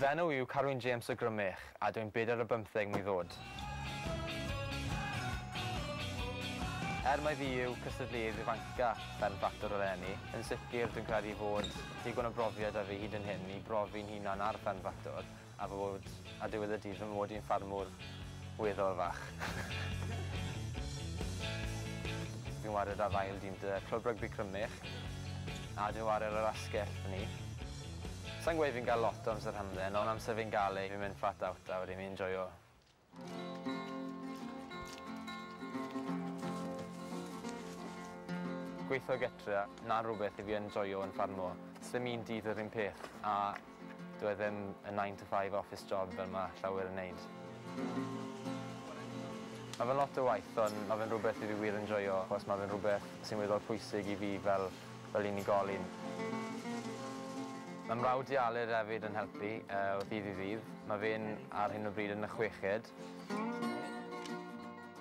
Fy enw yw Carwyn James o Grymych a dw i'n bedair a bymtheg mlwydd oed. Er mai fi yw cystadleuaeth ifanca Ben Battle eleni, yn sicr dwi'n credu fod digon o brofiad 'da fi hyd yn hyn i brofi'n hunan ar Ben Battle a fod ar diwedd y dydd fy mod i'n ffarmwr weddol fach. Fi'n ware 'da Rhyl dîm 'da Clwb Rygbi Crymych a dwi'n ware ar yr asgell 'da ni. Sa i'n gweud fi'n gael lot o amser hamdden ond amser fi'n gael e fi'n mynd flat out a wedyn fi'n joio. Gweitho gytre 'na rwbeth i fi yn joio yn ffarmo. Sdim un dydd yr un peth a dyw e ddim yn nine to five office job fel ma' llawer yn neud. Ma' fe'n lot o waith ond ma' fe'n rwbeth i fi wir yn joio achos ma' fe'n rwbeth sy'n weddol pwysig i fi fel fel unigolyn. Mae mrawd i Aled hefyd yn helpu o ddydd i ddydd. Mae fe'n ar hyn o bryd yn y chweched.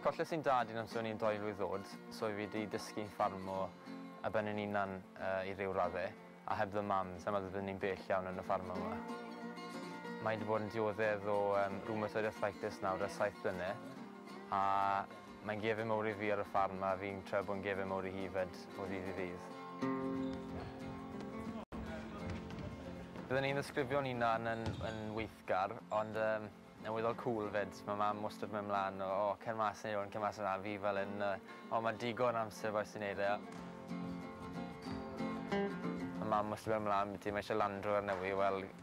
Colles i'n dad i amser o'n i'n dou mlwydd ddod so fi 'di dysgu ffarmo ar ben yn unan i ryw radde a heb fy mam sai'n meddwl byddwn i'n bell iawn yn y ffarmo 'ma. Mae 'di bod yn dioddef o rheumatoid arthritis nawr ers saith blyne a Mae'n gefin mowr i fi ar y ffarm a fi'n trio bod yn gefin mowr i hi 'fyd o ddydd i ddydd. Bydden ni'n ddisgrifio'n hunan yn yn weithgar ond yym yn weddol cŵl 'fyd. Ma' mam wastad myn' mlan o o cer mas neu hwn cer mas yna a fi fel 'yn yy o ma' digon amser bois ti neud e. Ma' mam wastad myn' mlan 'da ti mae isie Land Rover newy wel